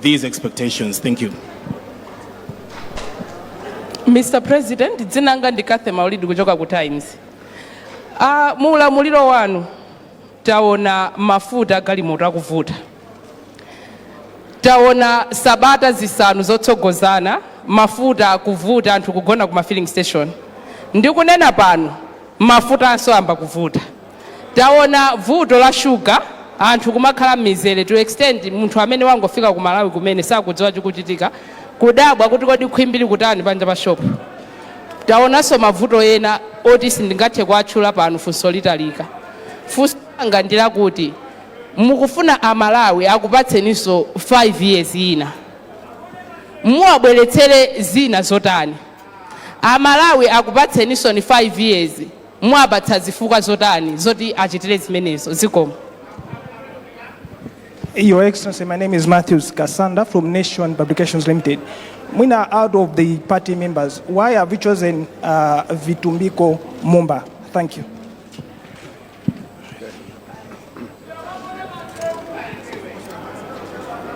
these expectations. Thank you. Mr. President, dzina langa ndi Kathy Maulidi kuchoka ku Times. Uh, mu ulamuliro wanu taona mafuta agalimoto akuvuta, taona sabata zisanu zotsogozana mafuta akuvuta, anthu kugona ku ma filling station. Ndikunena pano mafutanso ayamba kuvuta. Taona vuto la sugar anthu kumakhala mmizere to extent munthu amene wangofika ku Malawi kumene sakudziwa chikuchitika kudabwa kuti kodi khwimbi likutani panja pa shop. Taonanso mavuto ena oti sindingathe kuwatchula pano funso litalika. Funso langa ndi lakuti mukufuna a Malawi akupatseninso 5 years ina muwabweretsere zina zotani? A Malawi akupatseninsoni 5 years Muwapatsa zifukwa zotani zoti achitire zimenezo? Zikomo. Your Excellency, my name is Matthews Kasanda from Nation Publications Limited. Mwina, out of the party members, why have you chosen uh, Vitumbiko Mumba? Thank you.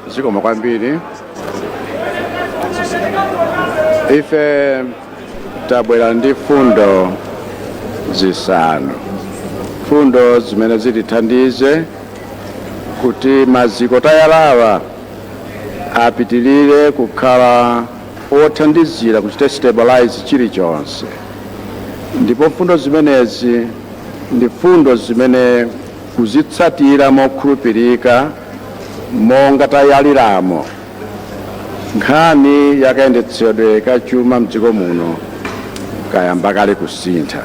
zikomo kwambiri ife tabwera ndi fundo zisanu fundo zimene zitithandize kuti maziko tayalawa apitilire kukhala othandizira kuchita stabilize chilichonse ndipo fundo zimenezi ndi fundo zimene kuzitsatira mokhulupirika monga tayaliramo nkhani yakayendetsedwe ka chuma mdziko muno kayamba kale kusintha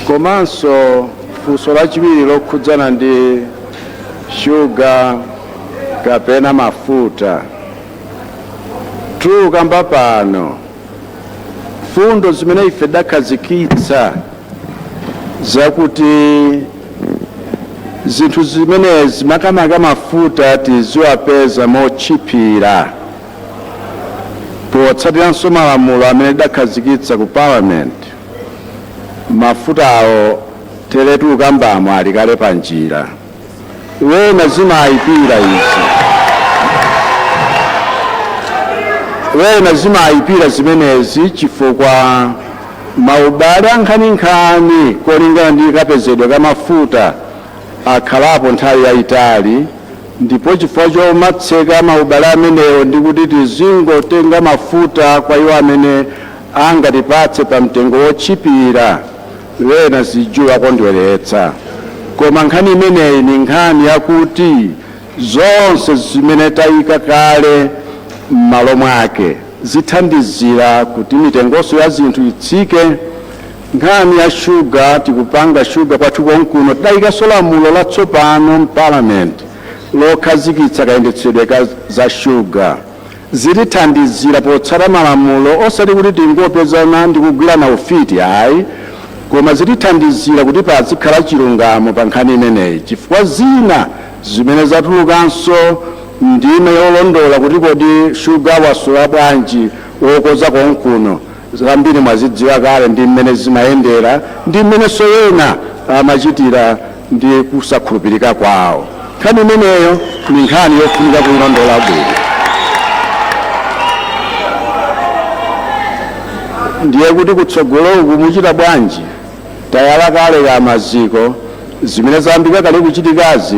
komanso funso lachiwiri lokhudzana ndi shuga kapena mafuta tukamba pano mfundo zimene ife tidakhazikitsa zakuti zinthu zimenezi makamaka mafuta tiziwapeza motchipira potsatiranso malamulo amene tidakhazikitsa ku parliament mafutawo teretu tukambamo ali kale pa njira wena zimayipira izi wena zimayipira zimenezi chifukwa maubale ankhaninkhani kolingana ndi kapezedwe ka mafuta akhalapo nthawi yayitali ndipo chifukwa chomatseka maubale amenewo ndi kuti tizingotenga mafuta kwa iwo amene angatipatse pa mtengo wotchipira Wena sizikuwakondweletsa, koma nkhani imeneyi ni nkhani yakuti zonse zimene taika kale m'malo mwake zithandizila kuti mitengonso ya zinthu itsike. Nkhani ya shuga, tikupanga shuga kwathu konkuno. Tidaikanso lamulo latsopano m'Parliament lokhazikitsa kayendetsedwe ka za shuga. Zitithandizira potsata malamulo osati kuti tingopezana ndi kugwirana ufiti ayi koma zitithandizira kuti pazikhala chilungamo pa nkhani imeneyi chifukwa zina zimene zatulukanso ndime yolondola kuti kodi shuga wasowa bwanji wokoza konkuno Zambiri mwazidziwa kale ndi mmene zimayendera ndi mmenenso ena amachitira ndi kusakhulupirika kwawo. Nkhani imeneyo ndi nkhani yofunika kuilondola bwino. Ndiye kuti kutsogoloku muchita bwanji? Tayala kale ka maziko. Zimene zayambika kale kuchitikazi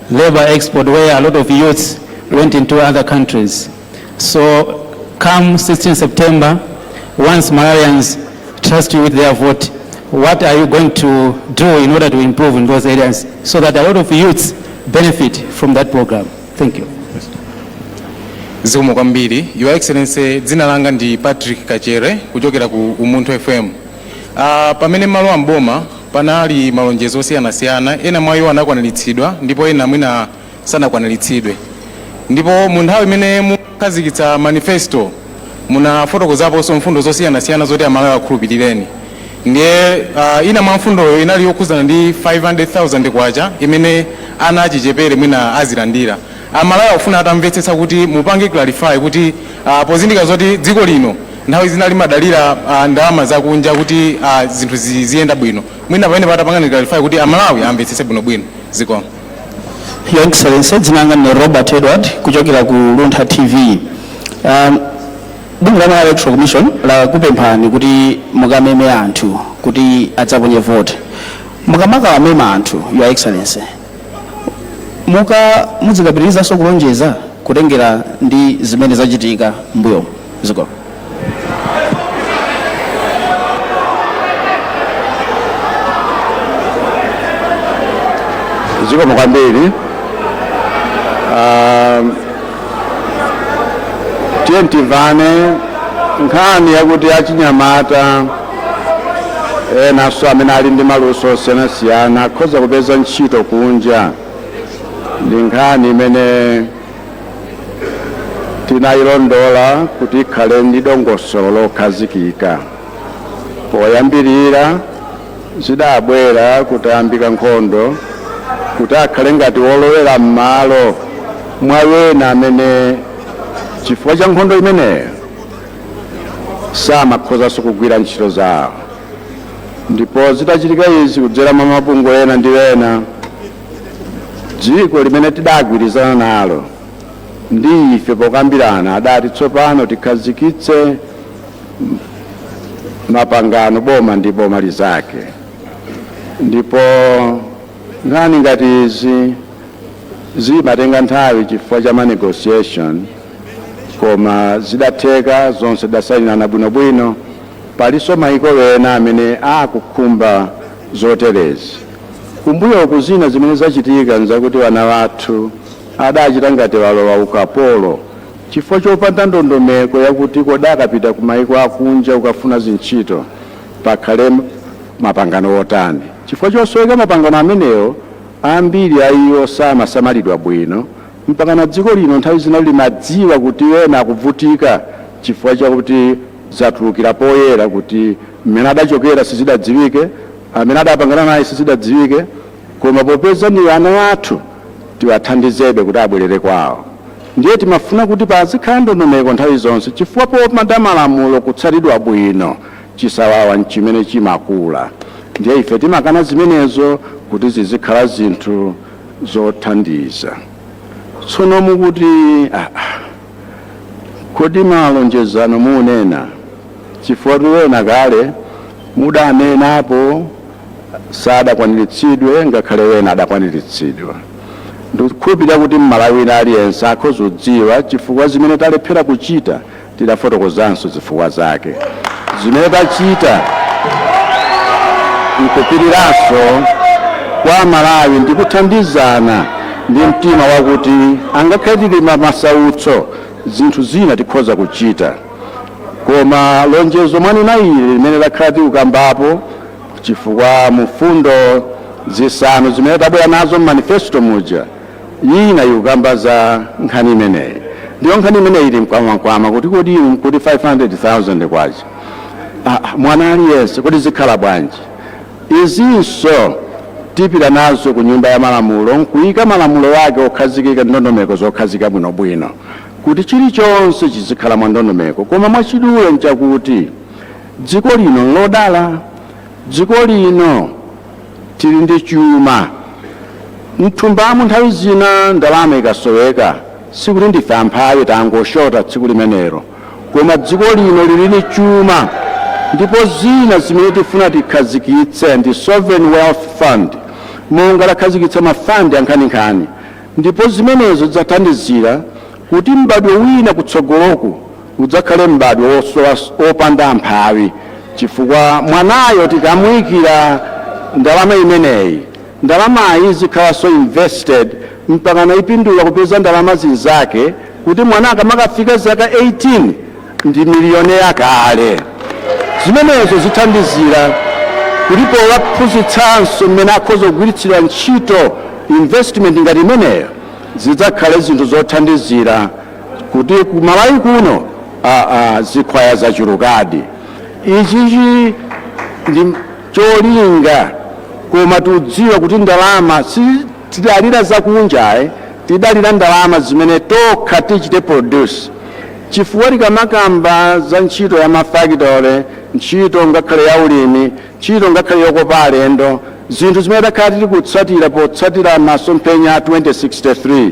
labour export where a lot of youths went into other countries. So come 16 September, once Malawians trust you with their vote, what are you going to do in order to improve in those areas so that a lot of youths benefit from that program? Thank you. zikomo kwambiri your excellency dzina langa ndi patrick kachere kuchokera ku umunthu fm uh, pamene malo a mboma Panali malonjezo osiyanasiyana, ena mwa iwo anakwaniritsidwa ndipo ena mwina sanakwaniritsidwe. Ndipo mu nthawi imene munkakhazikitsa manifesto munafotokozaponso mfundo zosiyanasiyana zoti Amalawi akhulupilireni. Ndiye ina mwa mfundoyo inali yokhudzana ndi K500,000 imene ana achichepere mwina azilandira. Amalawi akufuna atamvetsetsa kuti mupange clarify kuti pozindikira zoti dziko lino Nthawi zina limadalira ah, ndalama zakunja kuti ah, zinthu ziziyenda bwino mwina pamenepa atapangani clarify kuti amalawi amvetsetse bwinobwino zikomo Your Excellency, dzina langa ndine Robert Edward kuchokera ku Luntha TV. Um, Bungwe la Malawi Electoral Commission lakupemphani kuti mukameme anthu kuti adzaponye vote. Mukamakawamema anthu, Your Excellency, muka mudzikapitirizanso kulonjeza kutengera ndi zimene zachitika mbuyo ziko zikomo kwambiri um, tiye timvane nkhani yakuti achinyamata enanso amene ali ndi maluso osiyanasiyana akhoza kupeza ntchito kunja ndi nkhani imene tinayilondola kuti ikhale ndi dongosolo lokhazikika poyambirira zidabwera kutayambika nkhondo kuti akhale ngati wolowera m'malo mwa wena amene chifukwa cha nkhondo imeneyo samakhozanso kugwira ntchito zawo ndipo zitachitika izi kudzera mwa mabungwe ena ndi ena dziko limene tidagwirizana nalo ndi ife pokambirana adati tsopano tikhazikitse mapangano boma ndi boma lizake ndipo nkhani ngati izi zimatenga nthawi chifukwa cha ma negotiation koma zidatheka zonse tidasayinirana bwinobwino palinso maiko ena amene akukhumba zoterezi kumbuyoku zina zimene zachitika nzakuti wana wathu adachita ngati walowa ukapolo chifukwa chopanda ndondomeko yakuti kodi akapita ku maiko akunja ukafuna zintchito pakhale mapangano otani chifukwa chosoweka mapangano amenewo ambiri a iwo samasamalidwa bwino Mpakana dziko lino nthawi zina limadziwa kuti ena akuvutika chifukwa chakuti zatulukira poyera kuti mmene adachokera sizidadziwike, amene adapangana naye sizidadziwike, koma popeza ndi ana athu tiwathandizebe kuti abwerere kwawo. Ndiye timafuna kuti pazikhala ndondomeko nthawi zonse chifukwa popanda malamulo kutsatidwa bwino chisawawa nchimene chimakula ndiye ife timakana zimenezo kuti zizikhala zinthu zothandiza tsono mukuti kodi malonjezano munena chifukwa tiwena kale mudanenapo sadakwaniritsidwe ngakhale wena adakwaniritsidwa ndikukhulupirira kuti mmalawi wina aliyense akhozodziwa chifukwa zimene talephera kuchita Tidafotokozanso zifukwa zake zimene tachita n'kupiriranso kwa Amalawi ndi kuthandizana ndi mtima wakuti angakhale tili m'masautso, zinthu zina tikhoza kuchita. Koma lonjezo mwanena ili limene takhala tikukambapo chifukwa mu mfundo zisanu zimene tabwera nazo m'manifesito muja, ina ikukamba za nkhani imeneyi ndiyo nkhani imeneyi ili mkamwamkamwa kuti kodi inu mukuti 500000 kwacha mwana aliyense kodi zikhala bwanji izinso tipita nazo ku nyumba ya malamulo nkuyika malamulo ake okhazikika ndondomeko zokhazika bwinobwino kuti chilichonse chizikhala mwa ndondomeko koma mwachidule nchakuti dziko lino nlodala dziko lino Tili ndi chuma m'thumbamu nthawi zina ndalama ikasoweka sikuti ndife amphawi tangoshota tsiku limenelo koma dziko lino lili ni chuma ndipo zina zimene tifuna tikhazikitse ndi sovereign wealth fund monga takhazikitsa mafandi ankhaninkhani ndipo zimenezo zidzathandizira kuti m'badwo wina kutsogoloku udzakhale m'badwo wosowa, wopanda amphawi, chifukwa mwanayo tikamuyikira ndalama imeneyi, ndalamayi izikhalanso invested mpakana yipindula kupeza ndalama zinzake kuti mwana akamakafika zaka 18 ndi millionaire kale. Zimenezo zithandizira kuti powaphunzitsanso mmene akhoza kugwiritsira ntchito investment ngati imeneyo zidzakhale zinthu zothandizira kuti ku malawi kuno aa zikhwaya zachulukadi ichichi ndi cholinga koma tikudziwa kuti ndalama sitidalira zakunja ayi tidalira ndalama zimene tokha tichite produce chifukwa tikamakamba za ntchito ya mafakitole ntchito ngakhale ya ulimi ntchito ngakhale yokopa alendo zinthu zimene takhala tili kutsatira potsatira masomphenya a 2063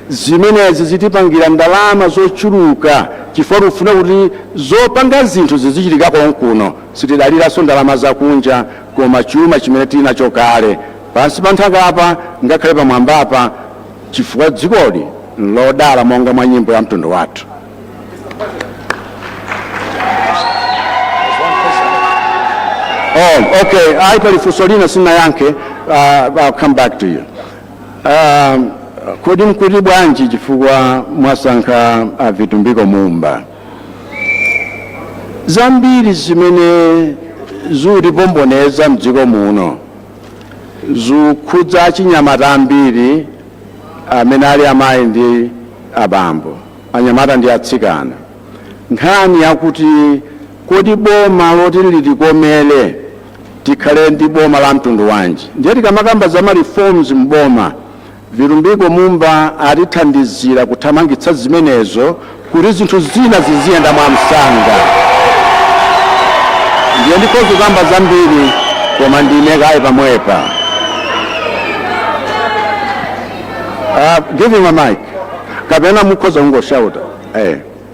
Zimenezi zitipangira ndalama zochuluka chifukwa tikufuna kuti zopanga zinthu zizichitika konkuno. Sitidaliranso ndalama zakunja koma chuma chimene tili nacho kale, pansi pa nthakapa ngakhale pamwambapa, chifukwa dzikoli n'lodala monga mwa nyimbo ya mtundu wathu. Oh, okay. Ayi pali funso lina sindinayankhe. Uh, I'll come back to you. Ah, kodi n'kuti bwanji chifukwa mwasankha a Vitumbiko Mumba zambiri zimene zikutipomboneza mdziko muno zikukhudza achinyamata ambiri amene ali amayi ndi abambo anyamata ndi atsikana nkhani yakuti kodi boma loti litikomere Tikhale ndi boma la mtundu wanji? Ndiye tikamakamba za ma reforms mu boma, Vitumbiko Mumba atithandizira kuthamangitsa zimenezo kuti zinthu zina ziziyenda mwamsanga. Ndiye ndikhoza kukamba zambiri koma ndiime kaye pomwepa. Uh, give him a mic. Kapena mukhoza kungoshauta. Eh.